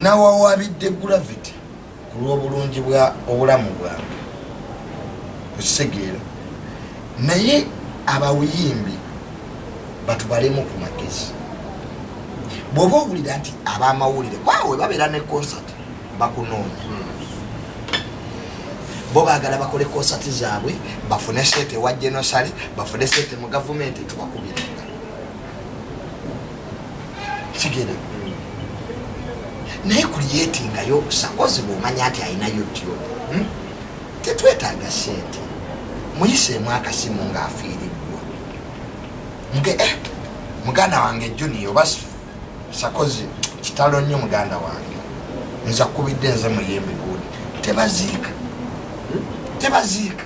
Nawawaabidde Gravity ku lw'obulungi bwa obulamu bwange okitegeera naye abawuyimbi batubalemu ku magezi bw'oba owulira nti ab'amawulire kwawe babeera ne konsati bakunoonya bo bagala bakole konsati zaabwe bafune sente ewa genosale bafune sente mu gavumenti tubakubira kigera naye kuliyetingayo obusakozi bwomanya nti alina youtube hmm? tetwetaaga sente muyiseemu akasimu ng'afiiriddwa muge eh, muganda wange juniya oba sakozi kitalo nnyo muganda wange nza kubidde nze muyembe gundi tebaziika hmm? tebaziika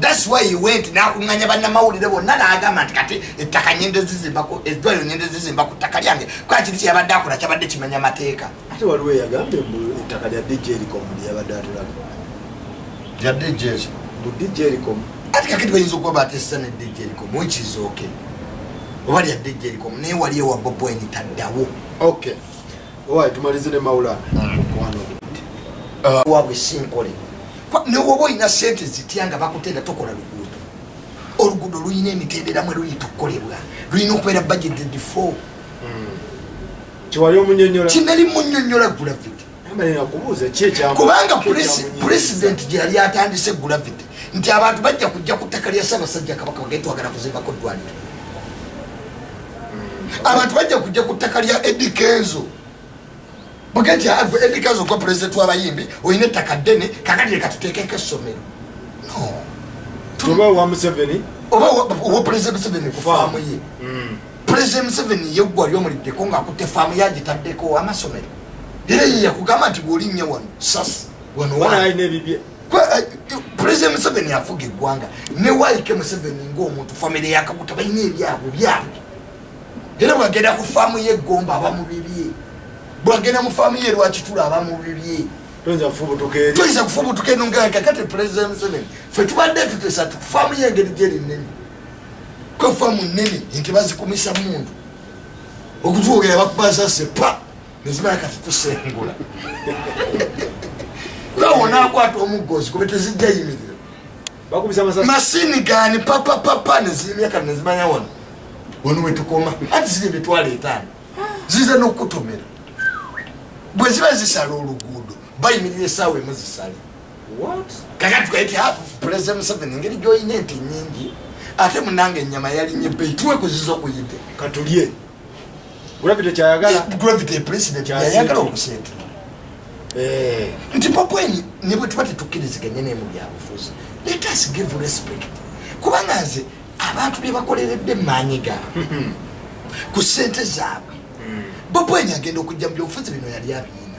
That's why he went nakunganya banna mawulire bonna n'agamba nti kati ettaka nyende zizimbako eddwayo nyende zizimba ku ttaka lyange kuba kiri kyeyabadde akola kyabadde kimenya mateeka ate waliwo eyagambye mbu ettaka lya dj ericom lyeyabadde atulaga lya dj mbu dj ericom ati kakati bayinza okuba batesa ne dj ericom wekizooke oba lya dj ericom naye wali ewa bobweni taddawo okay owaye tumalize ne maulana omukwano ah. wabwe sinkole newoba olina sente zitya nga bakutenda tokola luguudo oluguudo lulina emitendera mwe luyita okukolebwa lulina okubeera budgeted for hmm. kinali munyonyola gravity kubanga president gyeyali atandise gravity nti abantu bajja kujja ku ttaka lya ssabasajja kabaka bagetwagala kuzimbako ddwaniro abantu bajja kujja ku ttaka lya edi kenzo bugenti agwe edi kenzo gwa pulezidenti w'abayimbi olina ettaka ddene kakati leka tuteekeko essomero oba owa museveni oba owa pulezidenti museveni ku faamu ye hmm. pulezidenti museveni ye ggwa lyomulideko ng'akutte faamu yagitaddeko amasomero era ye yakugamba nti bw'olinnya wano sasi wano waalina ebibye pulezidenti museveni afuga eggwanga ne waike museveni ngaomuntu famire yakaguta balina ebyabwe byabwe era bwagenda ku faamu yeggomba aba mu bibye bwagenda mu faamu ye lwakitula aba mu bibye toyinza kufubutuka eno ngakakati pulezidenti museveni fe tubadde tutesa faamu yengeri gyeri nnene kwe faamu nnene nti bazikumisa mundu okutwogera bakubasase pa nezimala kati kusengula kawonakwata omuggozi kube tezijja yimirira masini gani papapapa neziyimira kati nezimanya wano wano wetukoma ati ziri emitwalo etaano ziza nokukutomera bwe ziba zisala oluguudo bayimirira esaawa emu zisale kakati tukaiti pulezida museveni engeri gyolina enti nyingi ate munange enyama yalinye beituwe kuziza okuyite katulye gravity kyayagala gravity president yayagala okusente eh. nti papweni ne bwe tuba tetukkiriziganye naye mu byabufuzi let us give respect kubanga nze abantu bye bakoleredde maanyi gaabwe hmm. ku sente zaabwe hmm. bopweni agenda okujja mu byobufuzi bino yali abiina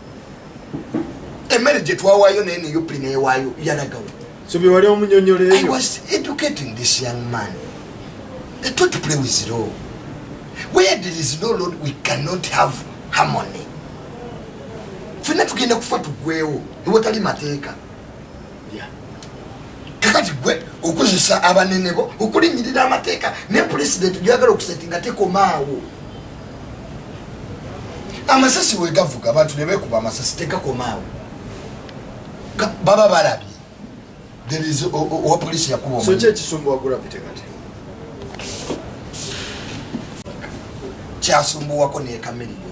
emmere gye twawaayo naye nup newaayo yalagawo so bye wali omunyonyoleeyo i was educating this young man they taught to play with law where there is no lord we cannot have harmony fenna tugenda kufa tugwewo ewatali mateeka kakati gwe okozesa abanene bo okulinyirira amateeka ne pulezidenti gyagala okuseti nga tekomaawo amasasi wegavuga abantu nebekuba amasasi tegakomaawo baba balabye owa polisi yakuba kyasumbuwako nekameriyo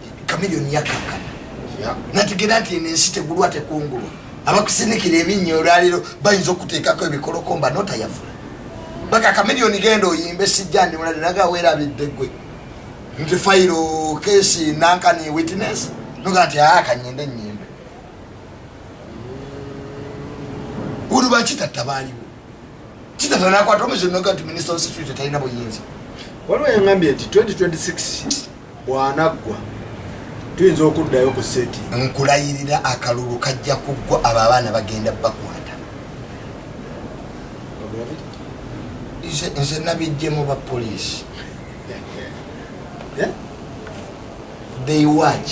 kamiliyoni yakankana nategera nti eno ensi tegulwa tekungulwa abakusinikira ebinnya olwaliro bayinza okuteekako ebikolokomba notayavula baga kamiliyoni genda oyimbe sijja ndi mulade naga weerabidde gwe nti fayiro kesi nankani witness noga nti aa ah, kanyende nyimbe ulu bakitatta baaliwo kitatta nakwata omuzi noga nti minisita wa security talina buyinza waliwo yangambye nti 2026 bwanaggwa tuyinza okuddayo ku seti nkulayirira akalulu kajja kuggwa abo abaana bagenda bakwata nze nabijjemu ba poliisi eh? they watch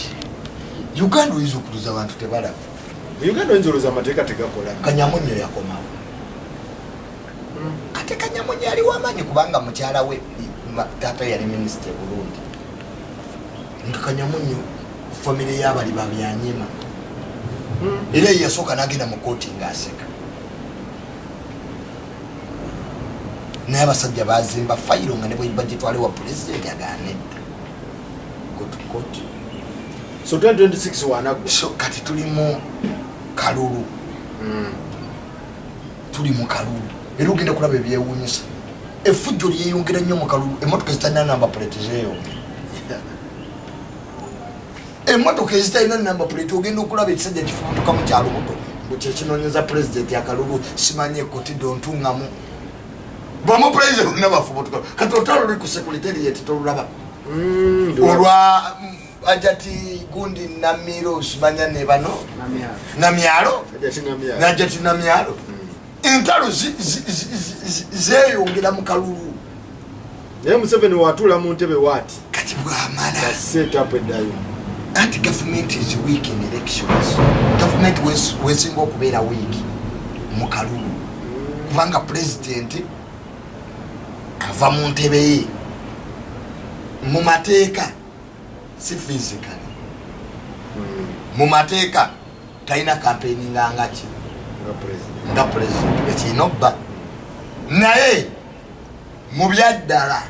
uganda oyinza okuluza abantu tebalaba uganda oyinza oluza amateeka tegakola kanyamunyo yakomawo ate kanyamunye yali wamanyi kubanga mukyala we taata yali minisita eburundi nga kanyamunye famire yabali babyanyima era yeyasooka nagenda mu kooti ngaaseka naye abasajja bazimba fayiro nga nebagitwale wa pulezidenti aganedda gotukoti so 2026 wanagwe so kati tulimu kalulu mm. tuli mu kalulu era ogenda kulaba ebyewuunyisa efujjo lyeyongera nnyo mu kalulu emmotoka ezitalina namba puleti zeeyongera emmotoka ezitalina namba puleti ogenda okulaba ekisajja kifubutuka mu kyalubuto mbu kyekinonyeza pulezidenti akalulu simanyi ekutido ntungamu bamu pulezidenti olina bafubutuka kati otalo luli ku sekuliteri yeti tolulaba mm, olwa ajati gundi namiro simanya ne bano namyalo najati namyalo hmm. entalo zeyongera mu kalulu naye museveni watula mu ntebe wati kati bwamalaseetapu eddayo anti gavumenti is week in elections gavumenti wesinga okubeera week mu kalulu hmm. kubanga pulezidenti ava mu ntebe ye mu mateeka si physically hmm. mu mateeka talina kampeyini ngangaki nga president ekirina obba naye mu byaddala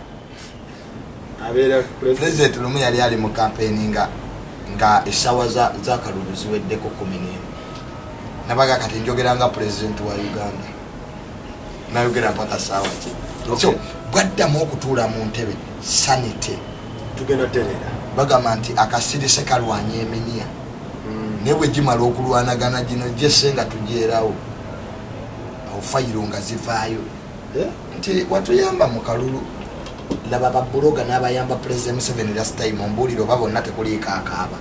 president lumu yali ali mu kampeyini nga nga esawa zakalulu ziweddeko kumi nemu nabaga kati njogera nga president wa uganda nayogera mpaka sawa ki so bwaddamu okutuula mu ntebe sanity tugenda terera bagamba nti akasirise kalwanya eminiya mm. naye bwegimala okulwanagana gino jese nga tugyerawo awo fayiro nga zivaayo eh? nti watuyamba mu kalulu laba babuloga n'abayamba pulezida museveni last time ombuulire oba bonna tekuliiko akaaba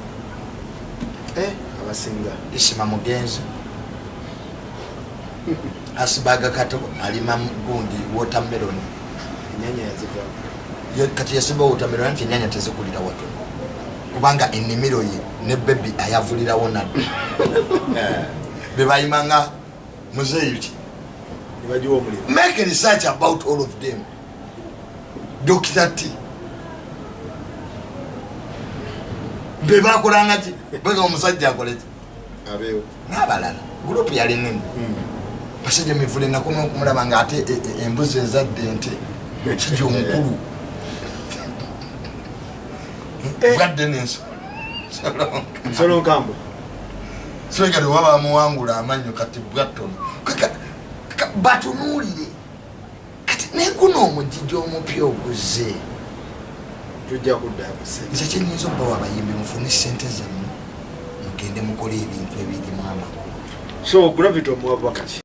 eh? abasinga isima mugenzi asibaga kato alima gundi watermelon enyanya yazivaa kati yasimba wotamero anti enyanya tezikulira watu kubanga enimiro ye ne bebi ayavulirawo nadda eh, bebayima nga muzeeyi ki make research about all of them dokita ti bebakolangaki bega omusajja akoleki abeewo n'abalala gurupu yali nene hmm. basajja mivule ennaku n'okumulaba nga ate e, e, embuzi ezadde nte kija omukulu eh. bwadde nenso solonkambo soegale oba bamuwangula amannyo kati bwattono batunuulire kati naye guno omujiji omupya oguzze tujja kuddaabuse nze kyenyinza okubawa abayimbi mufune sente zammwe mugende mukole ebintu ebirimu amakulu so gravity omuwabwakaki